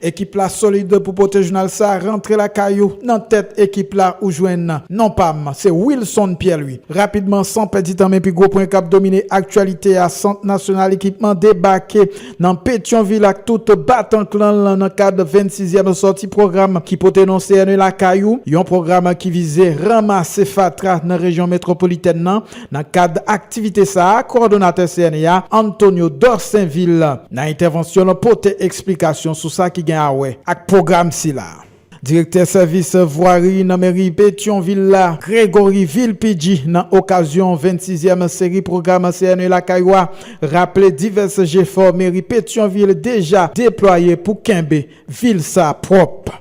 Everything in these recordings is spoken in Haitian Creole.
Ekip la solid pou pote jounal sa rantre lakay ou. Nan tèt ekip la ou jwenn non pa m, se Wilson Pierre-Louis. Rapidman san pèdi tan men pi gwo pwen k ap domine aktyalite a, Sant Nasyonal Ekipman debake nan Petyonvil ak tout batan klan l nan kad 26 zièm sòti pwogram ki pote non CNE lakay ou, yon pwogram ki vize ranmase fatra nan rejyon metwopolitèn nan. Nan kad aktivite sa, kowòdonatè CNE a, Antonio Dorsainvil, nan entèvansyon l pote eksplikasyon sou sa ki gen awè ak pwogram sila. Direktè sèvis vwari nan meri Petyonvil la, Gregory Villepidji, nan okazyon 26 zièm seri pwogram CNE lakay ou a, raple divès jefò meri Petyonvil deja deplwaye pou kenbe vil sa pwòp.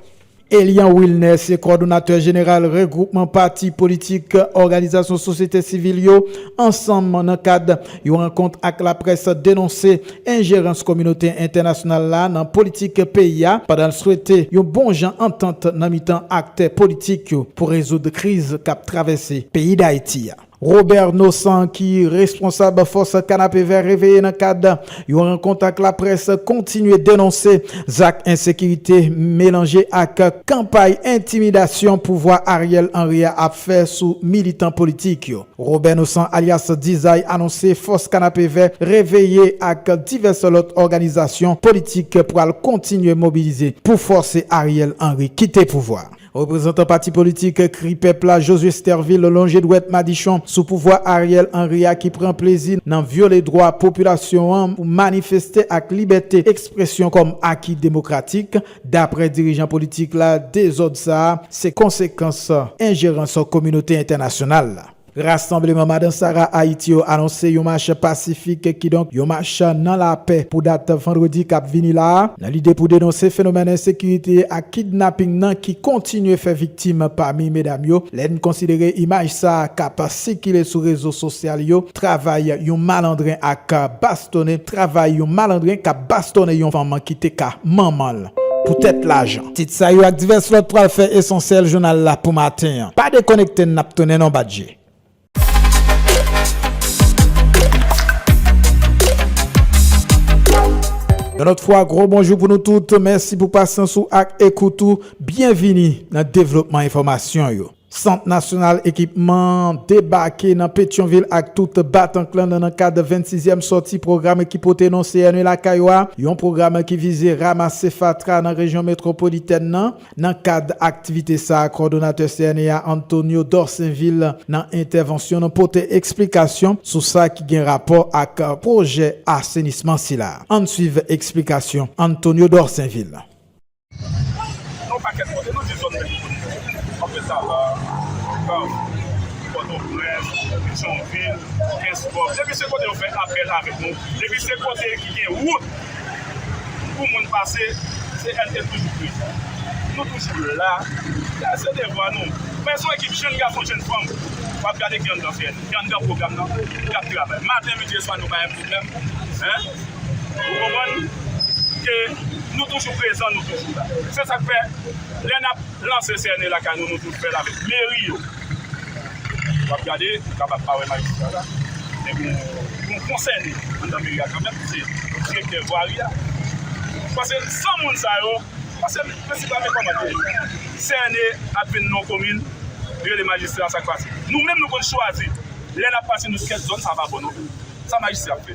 Elian Wilner se kòdonatè jeneral regwoupman pati politik, òganizasyon sosyete sivil yo ansanm nan kad yon rankont ak laprès denonse enjerans kominote entènasyonal la nan politik peyi a pandan l swete yon bon jan antant nan mitan aktè politik yo pou rezoud kriz k ap travèse peyi Dayiti a. Robert Nosan ki responsab fòs Kanapevè Reveye nan kad yon rankont ak laprès kontinye denonse zak ensekirite melanje ak kanpay entimidasyon pouvwa Ariel Henry a ap fè sou militan politik yo. Robert Nosan alyas Dizay anonse fòs Kanapevè Reveye ak divès lòt òganizasyon politik pral kontinye mobilize pou fòse Ariel Henry kite pouvwa a. Reprezantan pati politik Kri Pèp la, Josué Stervil lonje dwèt madichon sou pouvwa Ariel Henry a ki pran plezi nan vyole dwa popilasyon an pou manifeste ak libète ekspresyon kòm aki demokratik. Daprè dirijan politik la, dezòd sa a se konsekans enjerans kominote entènasyonal la. Rasanbleman Madan Sara Ayiti yo anonse yon mach pasifik, kidonk yon mach nan lapè pou dat vandredi kap vini la a, nan lide pou denonse fenomèn ensekirite ak kidnaping nan ki kontinye fè viktim pami medam yo. Lè n konsidere imaj sa a kap sikile sou rezo sosyal yo, travay yon malandren ak bastone, travay yon malandren kap bastone yon fanm ki te ka manman l. poutèt lajan. Tit sa yo ak divès lòt pral fè esansyèl jounal la pou maten an. Pa dekonekte n n ap tounen non bat je. Yon lòt fwa gwo bonjou pou nou tout, mèsi pou pasyans ou ak ekout ou. Byenvini nan devlopman enfòmasyon yo. Sant Nasyonal Ekipman an debake nan Petyonvil ak tout batank lan nan kad 26 yèm sòti pwogram ki pote non CNE lakay ou a, yon pwogram ki vize ramase fatra nan rejyon metwopolitèn nan. Nan kad aktivite sa a, kòdonatè CNE a Antonio Dorsainvil nan entèvansyon l pote eksplikasyon sou sa ki gen rapò ak pwojè asenisman sila. Ann swiv eksplikasyon Antonio Dorsainvil. Yon pakèt kote nou di zòn metwopolitèn. Kanpe Sava, Kab, Pòtoprens, Bidjònvil, Kenskòf. Depi se kote yo fè apèl avèk nou, depi se kote ki gen wout pou moun pase, CNT toujou prezan. Nou toujou la. Se devwa nou. Men son ekip jenn gason, jenn fanm. W ap gade ki anndan CNT, ki anndan pwogram nan, k ap travay. Maten, midi e swa nou pa yon pwoblèm. Ou konprann? Ke nou toujou prezan, nou toujou la. Se sa k fè, lè n ap lanse CNE lakay nou, nou toujou fè l avèk meri yo. W ap gade, ou kapab pa wè maestro sa la, men gen yon konsène anndan meri a kanmenm ki se direktè vwari a. Pase san moun sa yo, pase prensipal men kòman ke CNE ap vin nan yon komin, yo rele majistra, sa k pase? Nou menm nou konn chwazi, lè n ap pase nan kèk zòn, sa pa bon non plis. Sa majistra ap fè?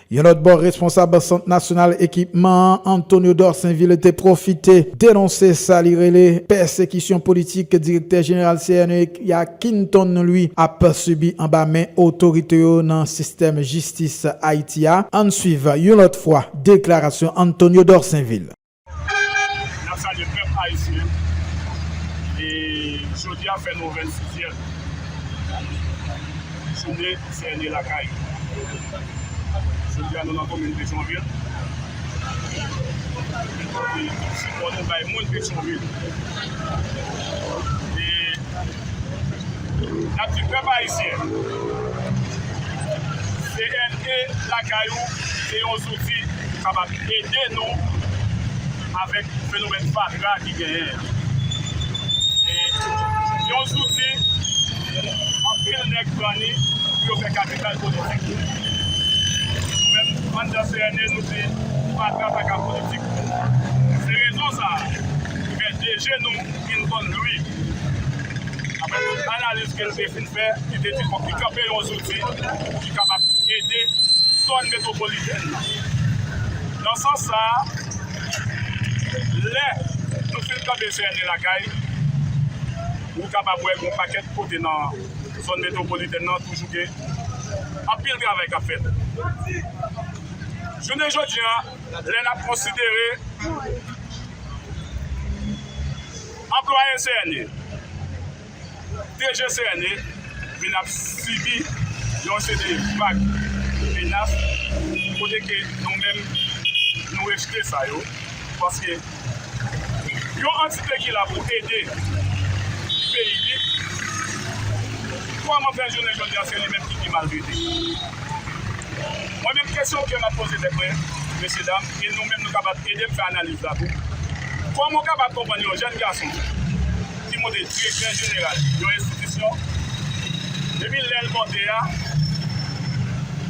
Yon lòt bò responsab Sant Nasyonal Ekipman an, Antonio Dorsainville te pwofite denonse sa li rele pèsekisyon politik direktè jeneral CNEEC ya Kinton Louis ap sibi anba men otorite yo nan sistèm jistis Ayiti a, ann swiv yon lòt fwa deklarasyon Antonio Dorsainville. N ap salye pèp ayisyen e jodi a fè nou 26 zyèm joune sène lakay. Jodi a nou nan komin Petyonvil e pote sipò nou bay moun Petyonvil e. Nap di pèp ayisyen DNA lakay ou se yon zouti ki kapab ede nou avèk fenomèn fatra ki genyen an. Se yon zouti anpil nèg pran li pou yo fè kapital politik yo. Nou menm anndan CNE nou di fatra pa ka politik. Se rezon sa ki fè DG nou. Vin vann lwi. Aprè tout analiz ke l te fin fè, li te di fòk li kanpe yon zouti pou ki kapab ede zòn metwopolitèn nan. Nan sans sa a, lè nou fin tande CNE lakay, ou kapab wè gon pakèt kote nan zòn metwopolitèn nan toujou gen anpil travay k ap fèt. Jounen jodi a, lè n ap konsidere. Anplwaye CNE, DG CNE vin ap sibi yon seri vag menas kote ke nou menm nou rejte sa yo paske yon antite ki la pou ede peyi li kòman fè jounen jodi a se li menm ki pi maltrete. Mwen menm kesyon ke map poze tèt mwen mesye dam. E nou menm nou kapab ede m fè analiz la tou. Kòman w kapab konprann yon jèn gason ki monte direktè jeneral yon enstitisyon, epi lè l monte a,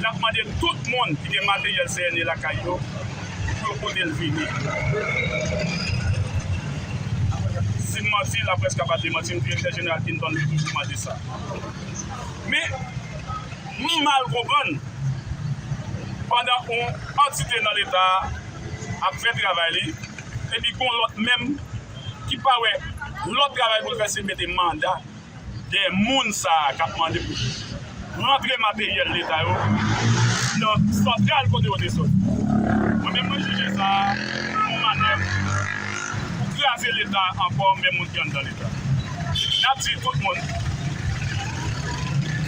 l ap mande tout moun ki gen materyèl CNE lakay yo pou yo pote l vini? Si m manti, laprès kapab demanti m, direktè jeneral Hinton Lee toujou mande sa. Men. ni mal konprann pandan yon antite nan leta a ap fè travay li epi gon lòt menm ki pa wè lòt travay pou l fè se mete manda dèyè moun sa a k ap mande pou rantre materyèl leta yo nan santral kote yo te soti. Mwen menm mwen jije sa a yon manèv pou kraze leta ankò men moun ki anndan li. N ap di tout moun,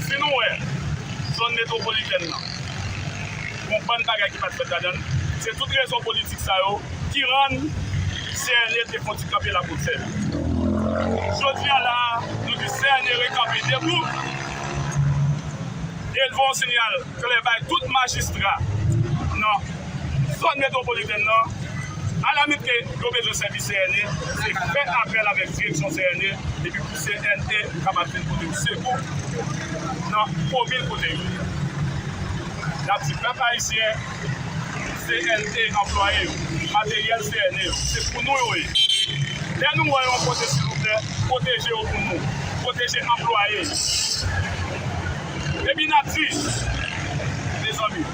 si nou wè zòn metwopolitèn nan gon bann bagay ki pa t fèt ladan l, se tout rezon politik sa yo ki rann CNE te fon ti kanpe lapote l. Jodi a la a, nou di CNE rekanpe debou e l voye yon sinyal klè bay tout majistra nan zòn metwopolitèn nan, Ala mete yo bezwen sèvis CNE se fè apèl avèk direksyon CNE epi pou CNE kapab vin pote yo sekou nan komin kote yo ye. N ap di pèp ayisyen, CNE anplwaye yo, materyèl CNE yo, se pou nou yo ye. Lè nou wè yon kote silvouplè pwoteje yo pou nou, pwoteje anplwaye yo. Epi n ap di, mezanmi.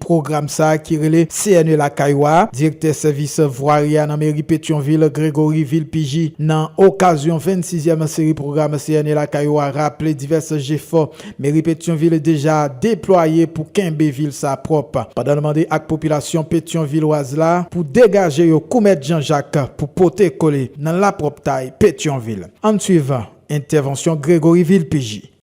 Pwogram sa ki rele CNE lakay ou a, direktè sèvis vwari a nan meri Petyonvil Gregory Vilpigi nan okazyon 26 zyèm seri pwogram CNE lakay ou a raple divès jefò meri Petyonvil deja deplwaye pou kenbe vil sa pwòp pandan l mande ak popilasyon petyonvilwaz la pou degaje yo kou mèt Jan Jak pou pote kole nan lapwòptay Petyonvil. Ann swiv entèvansyon Gregory Vilpigi.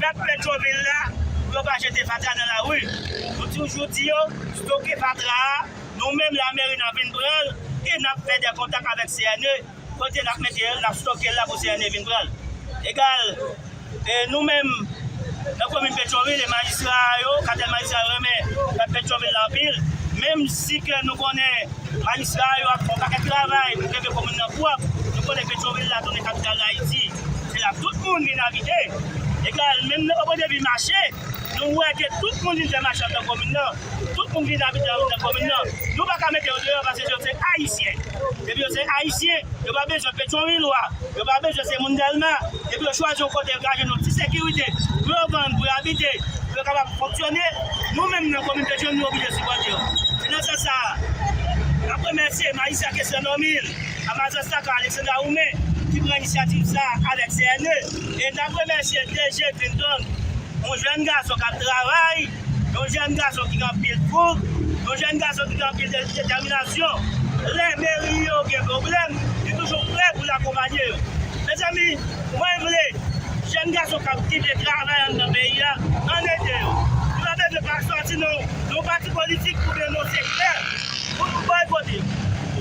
Pèp Pétrovil la, pou yo pa jete fatra nan lari. Nou toujou di yo, stoke fatra a, nou menm lameri n ap vin pran l e n ap fè dè kontak avèk CNE, kote n ap mete l, n ap stoke l la pou CNE vin pran l. Egal, nou menm nan komin Pétrovil e majistra yo, katèl majistra yo renmen pèp Pétrovil la anpil, menm si ke nou konnen majistra yo ap fè yon pakèt travay pou kenbe komin nan pwòp, nou konnen Pétrovil la tounen kapital Dayiti. Se la tout moun vin abite. E kè menm lè Popo te vin mache, nou wè ke tout moun vin fè mache anndan komin nan. Tout moun vin abite anndan komin nan. Nou pa ka mete yo deyò paske yo se Ayisyen. Depi yo se Ayisyen, yo pa bezwen Petyonwilwa, yo pa bezwen se moun Dèlma. Depi yo chwazi yon kote yo ka jwenn yon ti sekirite pou yo vann, pou yo abite, pou yo kapab fonksyone, nou menm nan komin Petyonvil nou oblije sipòte yo. Se nan sans sa a, n ap remèsye Mayisya Kesnè Nòmil. Amazon Saka Alexandra Oume ki pran inisyativ sa a avèk CNE e n ap remèsye DG Clinton, yon jèn gason k ap travay, yon jèn gason ki gen anpil foug, yon jèn gason ki gen anpil detèminasyon. Lè meri yo gen pwoblèm, li toujou prè pou l akonpanye yo. Mezanmi, mwen vle jèn gason k ap kite travay anndan peyi a, ann ede yo. Nou pa bezwen pa chwazi nan yon pati politik oubyen nan yon sektè. Pou nou bay kote.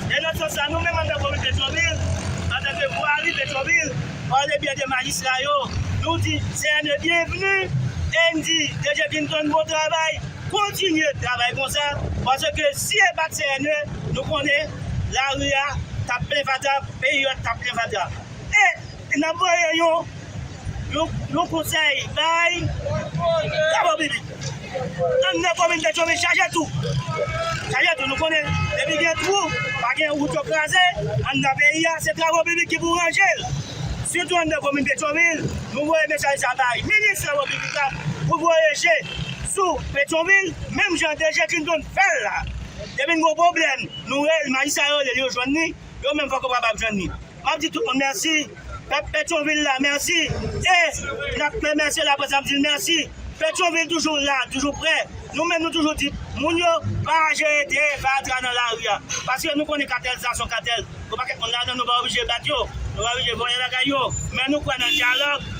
E nan sans sa nou menm andan komin Petwovil, antanke vwari Petwovil, pale byen de majistra yo, nou di CNE byenvni e n di DG Clinton bon travay, kontinye travay konsa, paske si e pat CNE nou konnen lari a tap plen fatra, peyi a tap plen fatra. E. N ap voye yon konsèy bay Kababibi. Ann nan komin Petyonvil chaje tou. Chaje tou. Nou konnen depi gen twou, pa gen wout yo kraze ann nan peyi a. Se Travo Bibi ki pou ranje l. Sitou ann nan komin Petyonvil. Nou voye mesaj sa bay minis Travo Bibik la pou l voye je sou Petyonvil menm jan DG Clinton fè l la. Depi n gen yon pwoblèm, nou rele majistra yo rele l yo jwenn li. Yo menm poko kapab jwenn li. Map di tout moun mèsi, pèp Petyonvil la mèsi e nap remèsye laprès nap dil mèsi. Petyonvil toujou la, toujou prè. Nou menm nou toujou di moun yo pa jete de fatra nan lari a. Paske nou konnen katèl sa son katèl. Gon pakèt moun ladan nou pa oblije bat yo, nou pa oblije vòlè bagay yo. Men nou kwè nan dyalòg.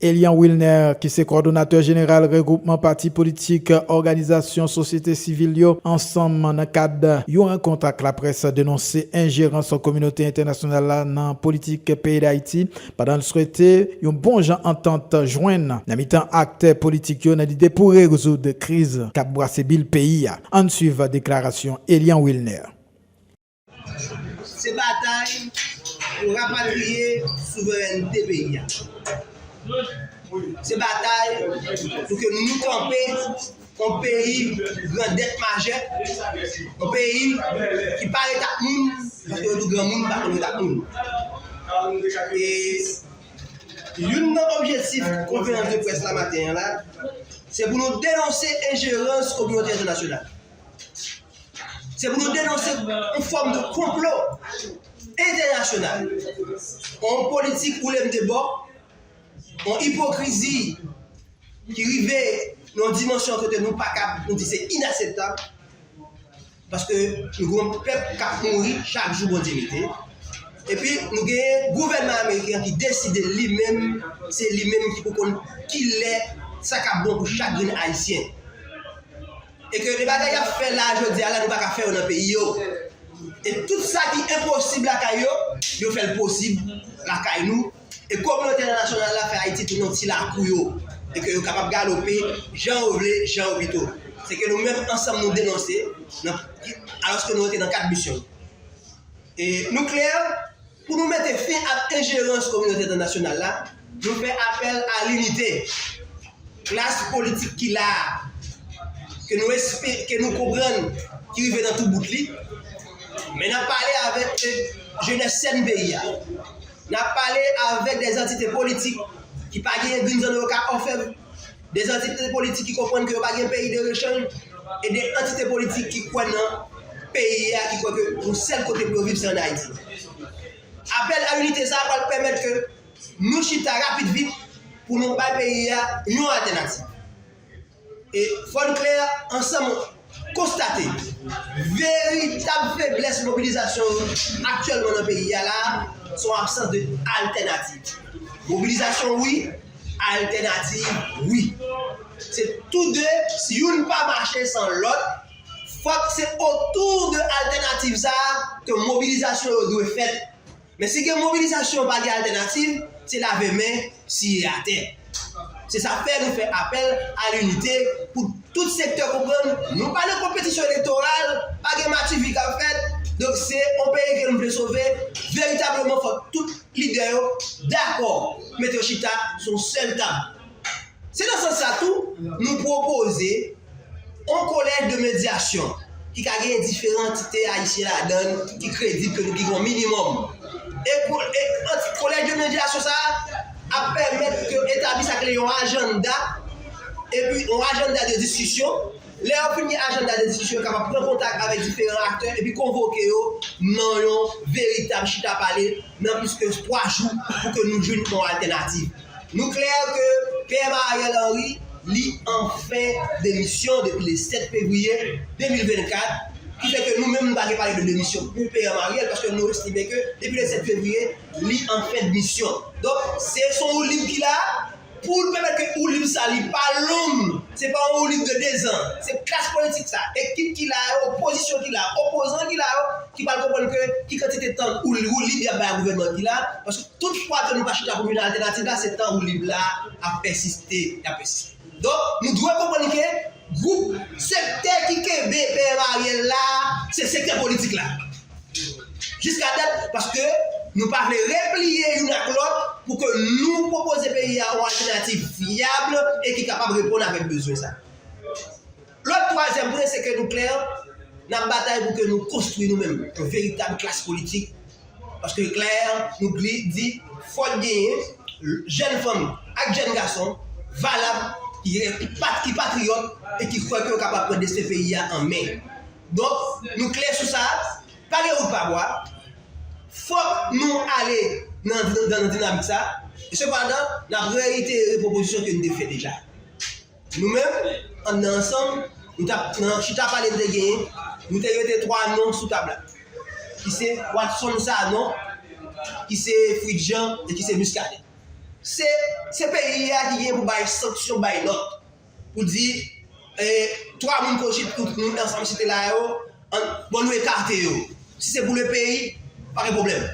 Elian Wilner, ki se kòdonatè jeneral regwoupman pati politik, òganizasyon sosyete sivil yo ansanm nan kad yon rankont ak laprès denonse enjerans kominote entènasyonal la nan politik peyi Dayiti pandan l swete yon bon jan antant jwenn nan mitan aktè politik yo nan lide pou rezoud kriz k ap bwase bil peyi a. Ann swiv deklarasyon Elian Wilner. Se batay pou rapatriye souverènte peyi a. Se batay pou ke nou kanpe yon peyi grandèt majè, yon peyi ki pa ret ak moun, paske yo di granmoun pa konn ret ak moun. E youn nan objektif konferans de près la maten an la, se pou nou denonse enjerans kominote entènasyonal. Se pou nou denonse yon fòm de konplo entènasyonal, yon politik ou lèm de bò, yon ipokrizi ki rive nan yon dimansyon kote nou pa kab, nou di se inaseptab, paske nou gen yon pèp k ap mouri chak jou Bondye mete, epi nou gen gouvènman ameriken an ki deside li menm, se li menm ki pou konn ki lè sa k ap bon pou chak grenn ayisyen. E ke de bagay yap fè la jodia la yo pa ka fè yo nan peyi yo. E tout sa ki enposib lakay yo, yo fèl posib lakay nou. E kominote entènasyonal la fè Ayiti tounen yon ti lakou yo. E ke yo kapab galope jan yo vle, jan yo pito. Se ke nou menm ansanm nou denonse, alòske nou rete nan kad misyon nou. E nou klè, Pou nou mete fen ak enjerans kominote entènasyonal la, nou fè apèl a linite klas politik ki la a, ke nou espere, ke nou konprann ki rive nan tou bout li, men nap pale avèk jenès sèn peyi a, nap pale avèk dè antite politik ki pa gen youn zan yo ka ofèm. de antite politik ki konprann ke yo pa gen peyi de rechanj e de antite politik ki kwè nan peyi a, ki kwè ke yon sèl kote pou yo viv se an Ayiti. Apèl a inite sa a pral pèmèt ke nou chita rapid vit pou nou bay peyi a yon altènativ. E fò n klè, ansanm konstate veritab feblès mobilizasyon yo aktyèlman nan peyi a la a, se yon absans de altènativ. Mobilizasyon wi, altènativ wi. Se tou de, si youn pa mache san lòt, fòk se otou de altènativ sa a ke mobilizasyon yo dwe fèt, Men si gen mobilizasyon pa gen altènativ, se lave men, siye atè. Se sa k fè nou fè apèl a linite pou tout sektè konprann nou pa nan konpetisyon elektoral, pa gen matifi k ap fèt, donk se yon peyi ke nou vle sove, veritableman fòk tout lidè yo dakò, mete yo chita sou yon sèl tab. Se nan sans sa tou, nou pwopoze yon kolèj de medyasyon ki ka genyen diferan antite ayisyen ladan l, ki kredib, ke nou ki gen yon minimòm. E kolèj de medyasyon sa a ap pèmèt yo etabli sa rele yon ajanda, epi yon ajanda de diskisyon. Lè yo fin gen ajanda de diskisyon, yo kapab pran kontak avèk diferan aktè epi konvoke yo nan yon veritab chita pale nan plis ke twa jou pou ke nou jwenn yon altènativ. Nou klè ke PM Ariel Henry li anfen demisyon depi le 7 fevriye 2024, ki fè ke nou menm nou pa gen pale de demisyon pou PM Ariel paske nou estime ke depi le 7 fevriye li anfen dmisyon. Donk se son woulib ki la pou l pèmèt ke woulib sa li pa long, se pa yon woulib de 2 zan. Se klas politik sa, ekip ki la yo, opozisyon ki la, opozan ki la yo ki pral konprann ke ki kantite tan woulib y ap bay a gouvènman ki la paske. Tout fwa ke nou pa chita pou jwenn altènativ la, se tan woulib la ap pèsiste, li ap pèsiste. Donk, nou dwe konprann ke gwoup, sektè ki kenbe PM Ariel la, se sektè politik la. Jiska dat, paske nou pa vle repliye youn ak lòt pou ke nou pwopoze peyi a yon altènativ vyab e ki kapab reponn avèk bezwen sa. Lòt twazyèm pwen se ke nou klè, n ap batay pou ke nou konstwi nou menm yon veritab klas politik, paske l klè, nou di, fòk genyen jèn fanm ak jèn gason valab, ki patriyòt e ki kwè ke yo kapab pran desten peyi a an men. Donk, nou klè sou sa, pa gen wout pa bwa, fòk nou ale nan dinamik sa, e sepandan, n ap reyitere pwopozisyon ke n te fè deja. Nou menm, anndan ansanm, nou t ap nan chita pale n te genyen, nou te mete 3 non sou tab la, ki se Watson Sanon, ki se Fritz Jean e ki se Muscadin. Se se peyi a ki genyen pou bay sanksyon, bay lòd, pou di 3 moun Kochit nou te ansanm site la yo, Bon nou ekate yo. Si se pou le peyi, pa gen pwoblèm.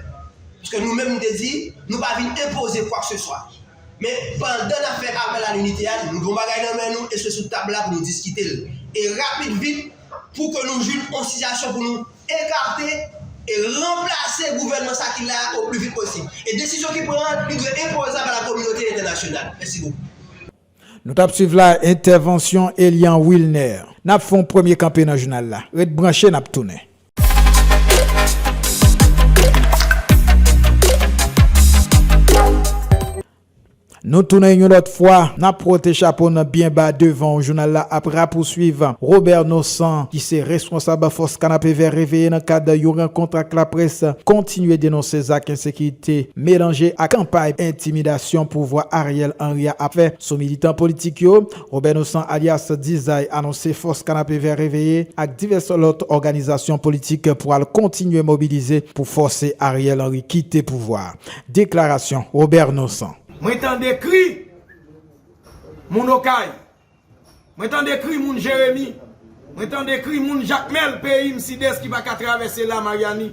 Paske nou menm nou te di, nou pa vin enpoze kwakseswa. Men, pandan n ap fè apèl a linite a, nou gen yon bagay nan men nou e se sou tab la pou nou diskite l. E rapid vit, pou ke nou jwenn yon sitiyasyon pou nou ekate e ranplase gouvènman sa ki la a o pli vit posib. E desizyon ki pran an, li dwe enpozab a la kominote entènasyonal. Mèsi bokou. Nou tap swiv la entèvansyon Elian Wilner. Nap fè yon premye kanpe nan jounal la. Ret branche nap tounen. Nou tounen yon lòt fwa. Nap wote chapo n byen ba devan w. Jounal la ap rapouswiv Robert Nosan ki se reskonsab fòs Kanapevè reveye nan kad yon rankont ak laprès kontinye denonse zak ensekirite. Melanje ak kanpay entimidasyon pouvwa Ariel Henry a ap fè sou militan politik yo, Robert Nosan alyas Dizay anonse Fòs Kanapevè Reveye ak divès lòt òganizasyon politik pwal kontinye mobilize pou fòse Ariel Henry kite pouvwa a. Deklarasyon Robert Nosan. Mwen tande kri moun okay Mwen tande kri moun jeremi. Mwen tande kri moun jakmel peyim sides ki paka travese la maryani.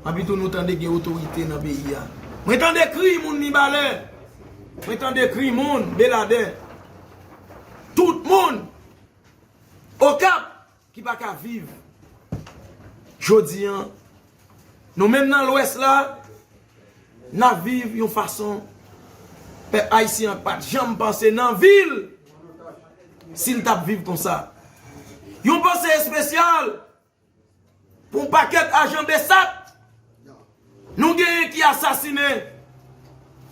Apitou nou tande gen otorite nan peyi a. Mwen tande kri moun mibalè. Mwen tande kri moun beladè. Tout moun okap. Ki pa ka viv jodi an. Nou menm nan lwès la, n ap viv yon fason pèp ayisyen an pa t janm panse nan vi l si l t ap viv konsa. Yon panse espesyal pou pakèt ajan Bsap. Nou genyen ki asasine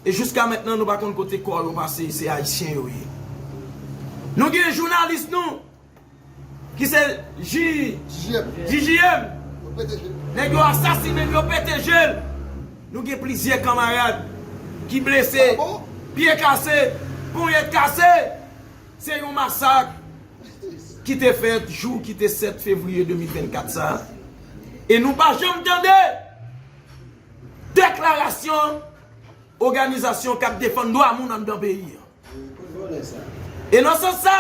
e jiska mentnan nou pa konn kote kò yo pase se ayisyen yo ye. Nou gen jounalis nou ki se JJM nèg yo asasine l yo pete je l. Nou gen plizyè kanmarad ki blese, pye kase, ponyèt kase. Se yon masak ki te fèt jou ki te 7 fevriye 2024 sa a, e nou pa janm tande deklarasyon oganizasyon k ap defann dwa moun anndan peyi an. E nan sans sa,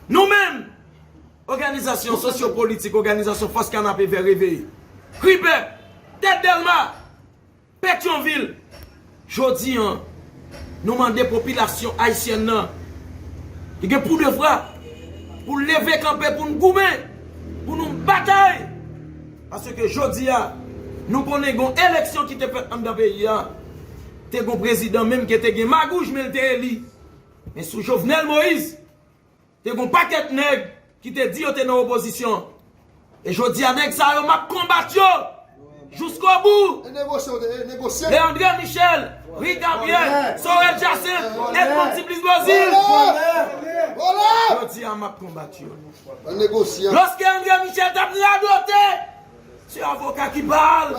nou menm oganizasyon sosyo politik, oganizasyon Fòs Kanapevè Reveye, Kripèp, Tèt Dèlma, Petyonvil, Jodi an, nou mande popilasyon ayisyèn nan ki gen poudevwa pou leve kanpe pou n goumen, pou nou batay, paske jodi a nou konnen gen yon eleksyon ki te fèt anndan peyi a, te gen yon prezidan menm ke te gen magouj men l te eli, men sou Jovenel Moïse Te gon pakèt nèg ki te di yo te nan opozisyon e jodi a nèg sa yo map konbat yo jouskobou de André Michel, Ri Gabriel, Sorel Jacinthe, Edmond Tiplice Beauzile jodi a map konbat yo lòske André Michel tap radote se avoka ki pal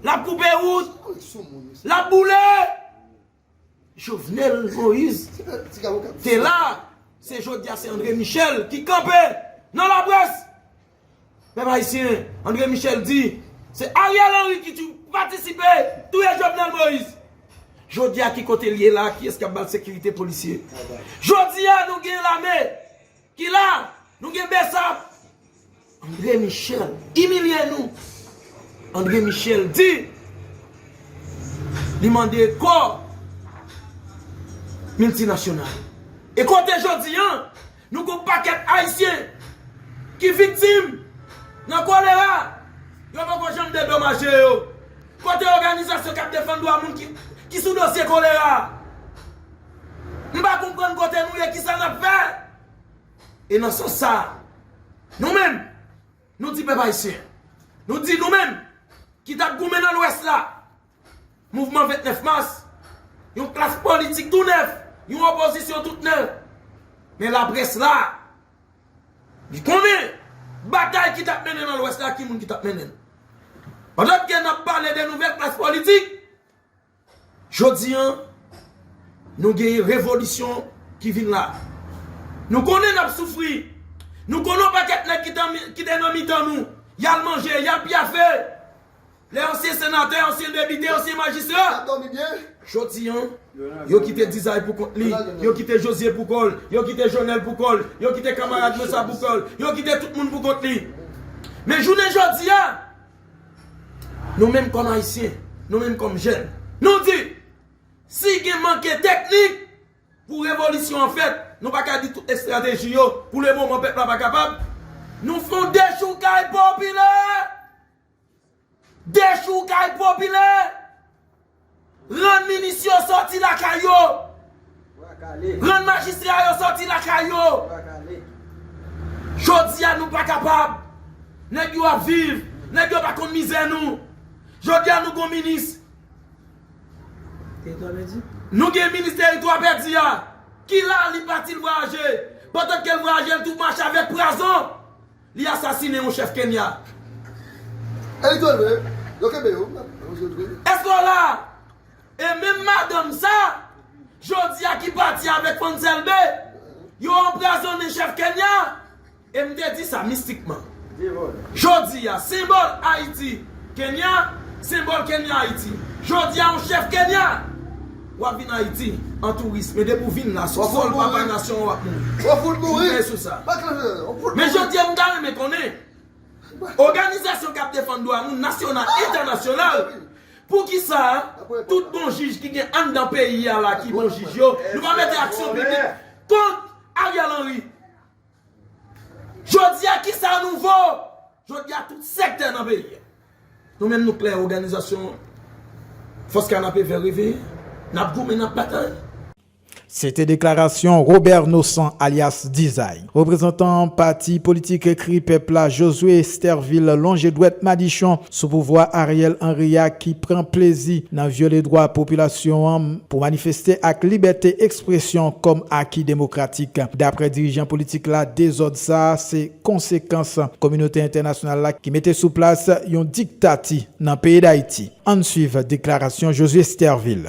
lap koupe wout lap boule Jovenel Moise te la, se jodi a se André Michel ki kanpe nan la près. Pèp ayisyen, André Michel di, se Ariel Henry ki tou patisipe touye Jovenel Moise. Jodi a ki kote li ye la, kiyès k ap ba l sekirite polisye. Jodi a nou gen lame. Ki la! Nou gen Bsap! André Michel imilye nou! André Michel di li mande kò miltinasyonal. E kote jodi an, nou gon pakèt Ayisyen ki viktim nan kolera, yo poko janm dedomaje yo. Kote òganizasyon k ap defann dwa moun ki sou dosye kolera a? M pa konprann kote nou ye, kisa n ap fè? E nan sans sa a, nou menm, nou di pèp ayisyen, nou di nou menm ki t ap goumen nan Lwès la, mouvman 29 mas, yon klas politik tou nèf, yon opozisyon tout nèf, men laprès la, li konnen batay ki t ap mennen nan Lwès la, ki moun ki t ap mennen l. Pandan ke n ap pale de nouvèl klas politik, Jodi an, nou gen yon revolisyon ki vin la. Nou konnen n ap soufri. Nou konnen yon pakèt nèg ki te nan mitan nou, y al manje, y al pyafe. Lè ansyen senatè, ansyen depite, ansyen majistra. Jodi an, yo kite Dizay pou kont li, yo kite Jozye pou kò l, yo kite Jonèl pou kò l, yo kite kamarad Nosa pou kò l, yo kite tout moun pou kont li. Men jounen jodi a. Nou menm kòm Ayisyen, nou menm kòm jèn, nou di, si gen manke teknik pou revolisyon an fèt, nou pa ka di tout estrateji yo, pou le moman pèp la pa kapab, nou fè yon dechoukay popilè! Dechoukay popilè! Rann minis yo sòti lakay yo. Rann majistra yo sòti lakay yo. Jodi a nou pa kapab. Nèg yo ap viv. Nèg yo pa konn mizè nou. Jodi a nou gon minis. Teritwa pèdi. Nou gen minis teritwa pèdi a. Ki la li pati l vwayaje. Pandan ke l vwayaje l tou mache avèk pwazon. Li asasine yon chèf Kenya. E li tol vre wi. Yo kenbe yo. Eske w la? E menm madanm sa, jodi a ki pati avèk fans Elbe, yo anprazonnen chèf Kenya. E m te di sa mistikman. Jodi a, senbòl Ayiti, Kenya, senbòl Kenya Ayiti. Jodi a yon chèf Kenya. Wap vin ayiti an touris men depi w vin la sou sol papa nasyon an wap mouri. Ou fout mouri. Kenpe sou sa. Men jodi a m ta renmen konnen oganizasyon kap defann dwa moun nasyonal entènasyonal poukisa tout bon jij ki gen anndan peyi a la ki bon jij yo nou pa mete aksyon piblik kont Ariel Henry. Jodi a kisa nou vo? Jodi a tout sektè nan peyi a. Nou menm nou klè òganizasyon Fòs Kanapé Vè Reveye, n ap goumen, n ap batay. Se te deklarasyon Robert Nosan alyas Dizay, reprezantan pati politik Kri Pèp la Josué Estervil lonje dwèt madichon sou pouvwa Ariel Henry a ki pran plezi nan vyole dwa popilasyon an pou manifeste ak libète ekspresyon kòm aki demokratik. Daprè dirijan politik la dezòd sa a se konsekans kominote entènasyonal la ki mete sou plas yon diktati nan peyi Dayiti. Ann swiv deklarasyon Josué Stervil.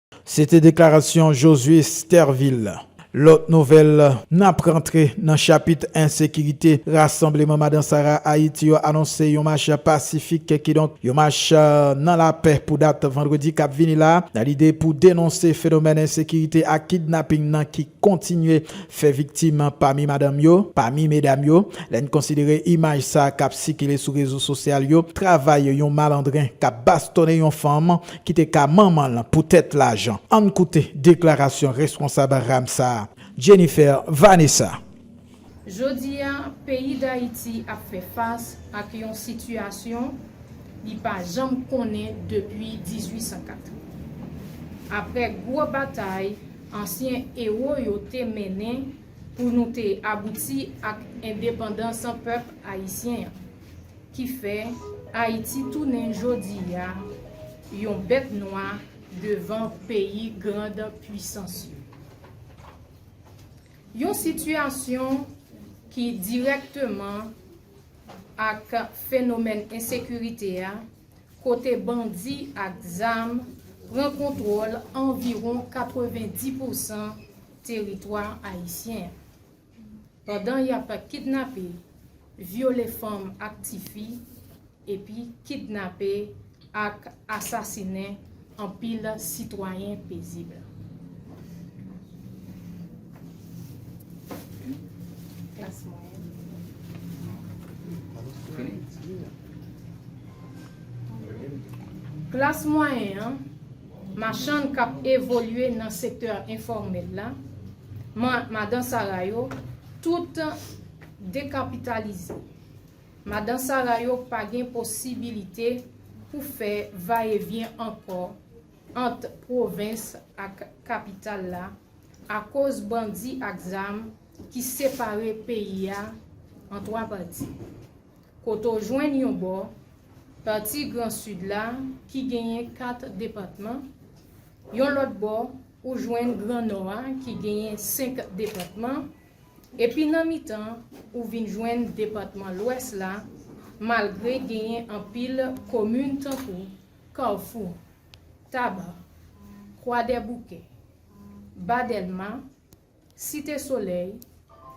Se te deklarasyon Josué Stervil. Lòt nouvèl, N ap rantre nan chapit ensekirite, Rasanbleman Madan Sara Ayiti yo anonse yon mach pasifik, kidonk yon mach nan lapè pou dat vandredi k ap vini la, nan lide pou denonse fenomèn ensekirite ak kidnaping nan ki kontinye fè viktim pami madanm yo, pami medam yo. Lè n konsidere imaj sa k ap sikile sou rezo sosyal yo, travay yon malandren k ap bastonnen yon fanm ki te ka manman l poutèt lajan. Ann koute deklarasyon responsab ram sa a, Jennifer Vanessa. Jodi a, peyi Dayiti ap fè fas ak yon sitiyasyon li pa janm konnen depi 1804. Aprè gwo batay ansyen ewo yo te mennen pou nou te abouti ak endepandans pèp ayisyen an, ki fè Ayiti tounen jodi a yon bèt nwa devan peyi grand pwisans yo. Yon sitiyasyon ki dirèkteman ak fenomèn ensekirite a kote bandi ak zam pran kontwòl anviwon 90 pousan teritwa ayisyen an. pandan y ap kidnape, vyole fanm ak tifi epi kidnape ak asasinen anpil sitwayen pezib. Klas mwayen an. machann k ap evolye nan sektè enfòmèl la, madan sara yo, tout dekapitalize. Madan sara yo pa gen posibilite pou fè vayevyen ankò ant pwovens ak kapital la akoz bandi ak zam ki separe peyi a an twa pati. kote w jwenn yon bò, pati Gran Sid la ki genyen kat depatman, yon lòt bò, ou jwenn Gran Nò a ki genyen senk depatman, epi nan mitan, ou vin jwenn depatman Lwès la, malgre genyen anpil komin tankou, Kafou, Taba, Kwadèboukè, Ba Dèlma, Site Solèy,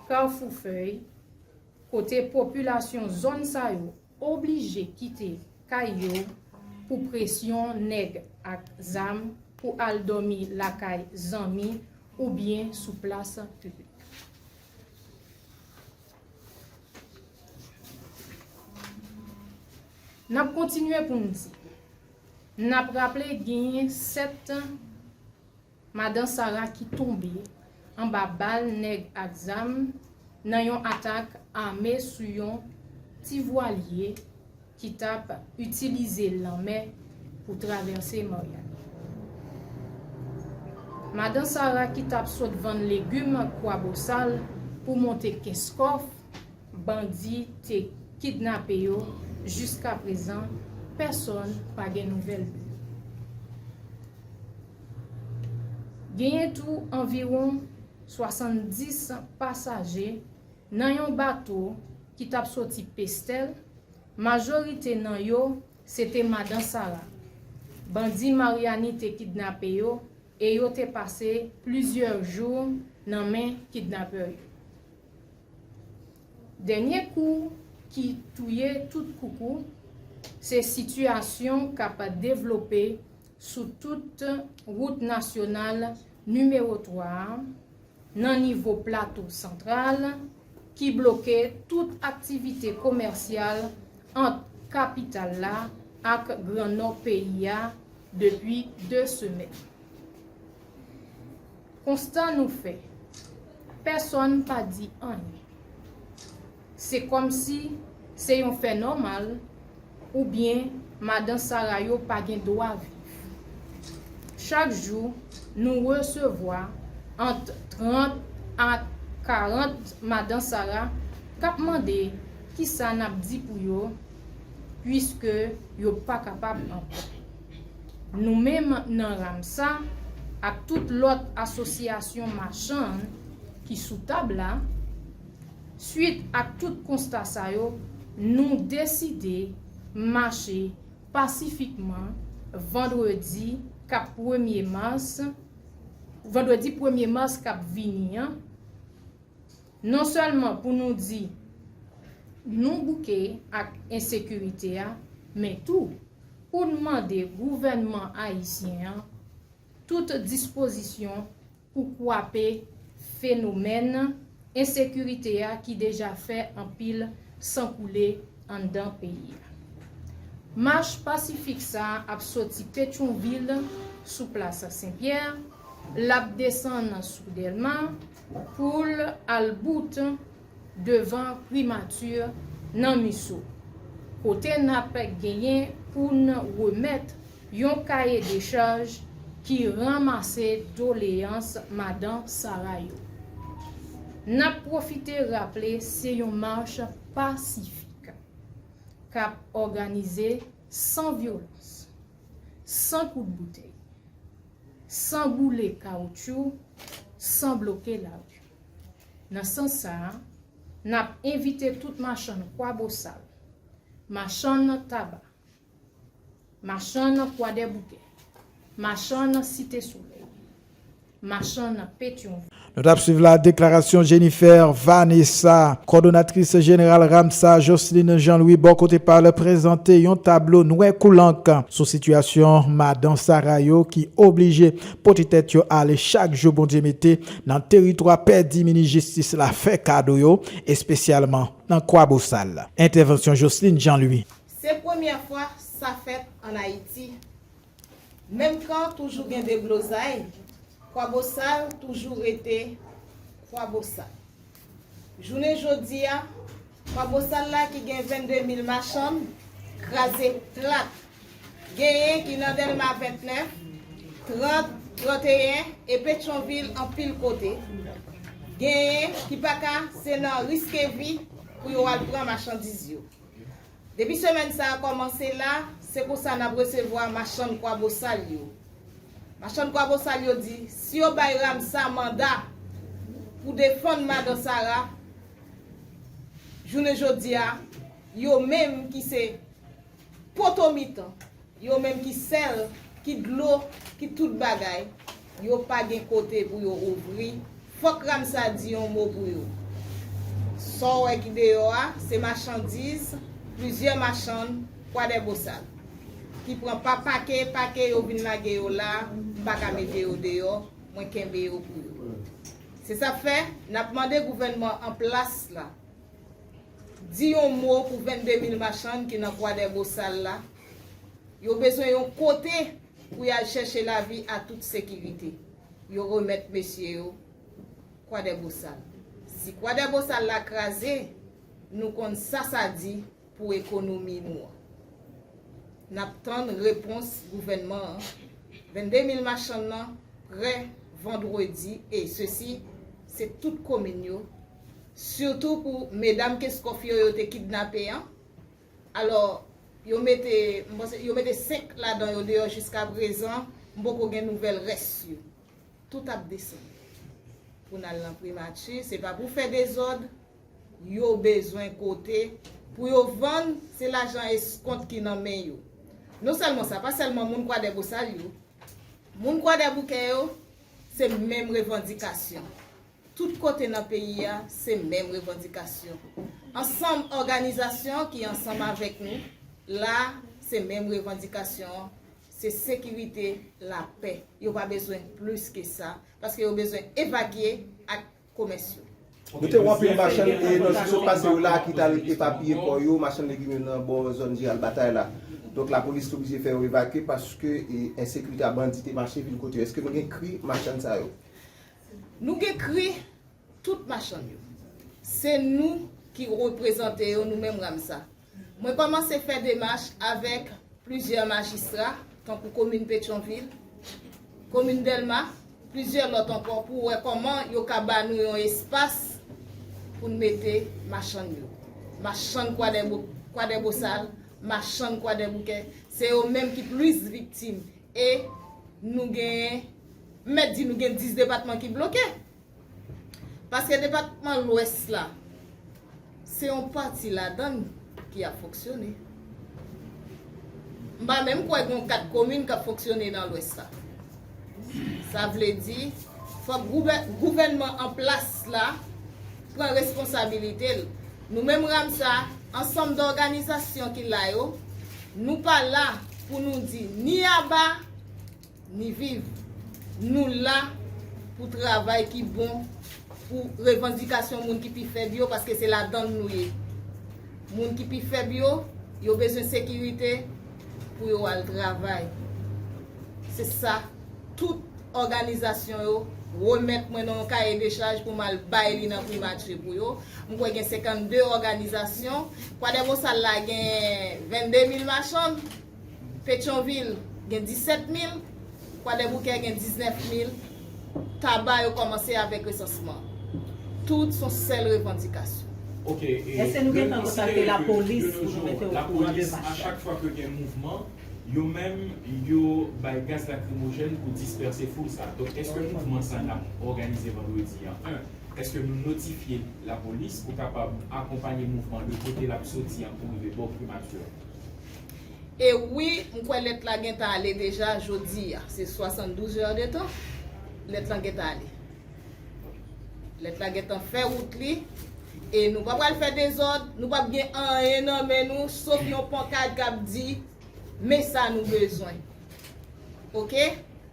Kafou Fèy, kote popilasyon zòn sa yo oblije kite kay yo pou presyon nèg ak zam pou al dòmi lakay zanmi oubyen sou plas piblik. N ap kontinye pou n di, n ap raple genyen 7. Madan Sara ki tonbe anba bal nèg ak zam nan yon atak ame sou yon ti vwalye ki tap itilize lanmè pou travèse Maryani. Madan Sara ki tap sot vann legum Kwabosal pou monte Kenskòf, bandi te kidnape yo jiskaprezan pèsòn pa gen nouvèl de yo. Genyen tou anviwon 70 pasaje nan yon bato ki t ap soti Pestèl, majorite nan yo se te madan Sara. Bandi Maryani te kidnape yo e yo te pase plizyè jou nan men kidnapè yo. Dènye kou ki touye tout koukou se sitiyasyon k ap devlope sou tout wout nasyonal nimewo 3 a nan nivo Plato Santral ki bloke tout aktivite komèsyal ant kapital la ak Gran Nò peyi a depi 2 semèn. Konstan nou fè. Pèsonn pa di anyen. Se kòmsi se yon fè nòmal oubyen madan Sara yo pa gen dwa viv. Chak jou nou resevwa ant 30 a 40 madan Sara k ap mande kisa n ap di pou yo puiske yo pa kapab ankò. Nou menm nan Ramsa ak tout lòt asosyasyon machann ki sou tab la, swit ak tout konsta sa yo, nou deside mache pasifikman vandredi k ap premye mas, vandredi premye mas k ap vini an, non sèlman pou nou di nou bouke ak ensekirite a, men tou. pou n mande gouvènman ayisyen an tout dispozisyon pou kwape fenomèn ensekirite a ki deja fè anpil san koule anndan peyi a. Mach pasifik sa a ap soti Petyonvil sou plas Senpyè, l ap desann sou Dèlma pou l al bout devan primati nan MISO, kote n ap genyen pou n remèt yon kaye dechaj ki ranmase doleyans Madan Sara yo. N ap pwofite raple se yon mach pasifik k ap òganize san vyolans, san kout boutèy, san boule kawoutchou, san bloke lari. Nan sans sa a, n ap envite tout machann Kwabosal, machann Taba, machann Kwadèboukè, machann Site Solèy, machann Petyonvil. Nou t ap swiv la deklarasyon Jennifer Vanessa, kòdonatris jeneral RAMSA, Jocelyne Jean Louis bò kote pa l prezante yon tablo nwè kou lank sou sitiyasyon madan Sara yo ki oblije pote tèt yo ale chak jou Bondye mete Nan teritwa pèdi minis jistis la fè kado yo, espesyalman nan Kwabosal. Entèvansyon Jocelyne Jean Louis. Se premyè fwa sa fèt an Ayiti. Menm kan toujou gen deblozay, Kwabosal toujou rete Kwabosal. Jounen jodi a, Pwa Bosal la ki gen 22 mil machann, kraze plat. Genyen ki nan Dèlma 29, 30, 31 e Petyonvil anpil kote. Genyen ki pa ka se nan Riskevi pou yo al pran machandiz yo. Depi semèn sa a kòmanse la, se konsa n ap resevwa machann Kwabosal yo. Machann Kwabosal yo di, si yo bay Ramsa manda pou defann Madan Sara, jounen jodi a, yo menm ki se poto mitan, Yo menm ki sèl, ki dlo, ki tout bagay, yo pa gen kote pou yo ouvri, fòk Ramsa di yon mo pou yo. Sa w wè ki deyò a, se machandiz plizyè machann Kwadèbosal, ki pran pa pake pake yo vin lage yo la, m pa ka mete yo deyò, mwen kenbe yo pou yo. Se sa k fè, n ap mande gouvènman an plas la, di yon mo pou 22 mil machann ki nan Kwadèbosal la, Yo bezwen yon kote pou y al chèche lavi a tout sekirite. Yo remèt mesye yo Kwadèbosal. Si Kwadèbosal la kraze, nou konn sa sa di pou ekonomi nou an. N ap tann repons gouvènman an. 22 mil machann nan prè vandredi e sesi se tout komin yo, sitou pou medam Kenscoff yo yo te kidnape an. Alò, yo mete, m panse, yo mete 5 ladan yo deyò jiskaprezan, m poko gen nouvèl rès yo. Tout ap desann. Pou n al nan primati, se pa pou fè dezòd, yo bezwen kote pou yo vann, se lajan eskont ki nan men yo. Non sèlman sa, pa sèlman moun Kwadèbosal yo, moun Kwadèboukè yo, se menm revandikasyon. Tout kote nan peyi a se menm revandikasyon. Ansanm òganizasyon ki ansanm avèk nou la se menm revandikasyon an, se sekirite, lapè. Yo pa bezwen plis ke sa paske yo bezwen evakye ak komès yo. Nou te wè anpil machann e nan jou ki sot pase yo la ki t al epapiye kò yo, machann legim yo nan bò zòn Jeneral Batay la. Donk lapolis te oblije fè yo evakye paske ensekirite a bandi te mache vil kote yo. Eske nou gen kri machann sa yo? Nou gen kri tout machann yo. Se nou ki reprezante yo nou menm Ramsa. Mwen kòmanse fè demach avèk plizyè majistra tankou komin Petyonvil, komin Dèlma, plizyè lòt ankò pou wè kòman yo ka ba nou yon espas pou n mete machann yo. Machann Kwadèbosal, machann Kwadèboukè, se yo menm ki plis viktim e nou genyen M mèt di nou gen 10 depatman ki bloke. Paske depatman lwès la, se yon pati ladan l ki ap fonksyone. M pa menm kwè gen 4 komin k ap fonksyone nan lwès la. Sa vle di, fòk gouvènman an plas la pran responsabilite l. Nou menm Ramsa, ansanm dòganizasyon ki la yo, nou pa la pou nou di ni aba, Ni viv. Nou la pou travay ki bon pou revandikasyon moun ki pi fèb yo paske se ladan l nou ye. Moun ki pi fèb yo, yo bezwen sekirite pou yo al travay. Se sa tout òganizasyon yo remèt mwen nan yon kaye de chaj pou m al bay li nan Primati pou yo. M kwè gen 52 òganizasyon. Kwadèbosa la gen 22 mil machann. Petyonvil gen 17 mil, Kwadèboukè gen 19 mil, Taba yo kòmanse avèk resansman. Tout son sèl revandikasyon. Ok, Èske nou gentan kontakte lapolis pou nou mete o kouran de mach la? Achak fwa ke gen mouvman, yo menm yo bay gaz lakrimojèn pou dispèse foul sa. Donk èske mouvman sa nap òganize vandredi an 1. Èske nou notifye lapolis pou kapab akonpanye mouvman de kote lap soti an pou rive bò primati an? E wi, m kwè lèt la gentan ale deja jodi a. Se 72 heures de tan, lèt lan gentan ale. Lèt la gentan fè wout li. E nou pa pral fè dezòd, nou pap gen anyen nan men nou, sof yon pankad k ap di, Men sa nou bezwen. Ok?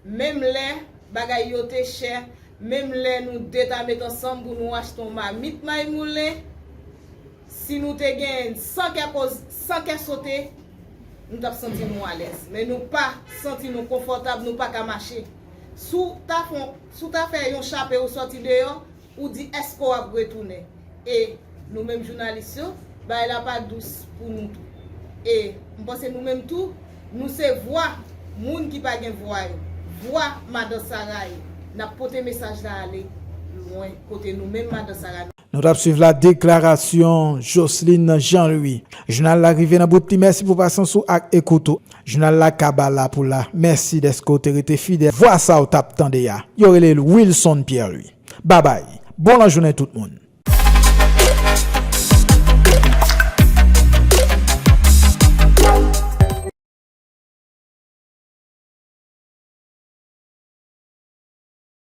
Menm lè bagay yo te chè, menm lè nou 2 ta met ansanm pou nou achte yon mamit may moulen, Si nou te gen san kè koz, san kè sote, nou tap santi nou alèz. Men nou pa santi nou konfòtab, nou paka mache. Si w ta fè yon, si w ta fè yon chape ou sòti deyò, ou di èske w ap retounen? E nou menm jounalis yo, bagay la pa dous pou nou tou. E m panse nou menm tou, nou se vwa moun ki pa gen vwa yo, vwa Madan Sara yo. Nap pote mesaj la ale lwen kote nou menm Madan Sara nou. Nou tap swiv la deklarasyon Joceline Jean Louis. Jounal la rive nan bout li mèsi pou pasyans ou ak ekout ou. Jounal la kaba la pou la. Mèsi dèske w te rete fidèl. Vwa sa w tap tande a, yo rele l Wilson Pierre Louis. Babay, bon lajounen tout moun.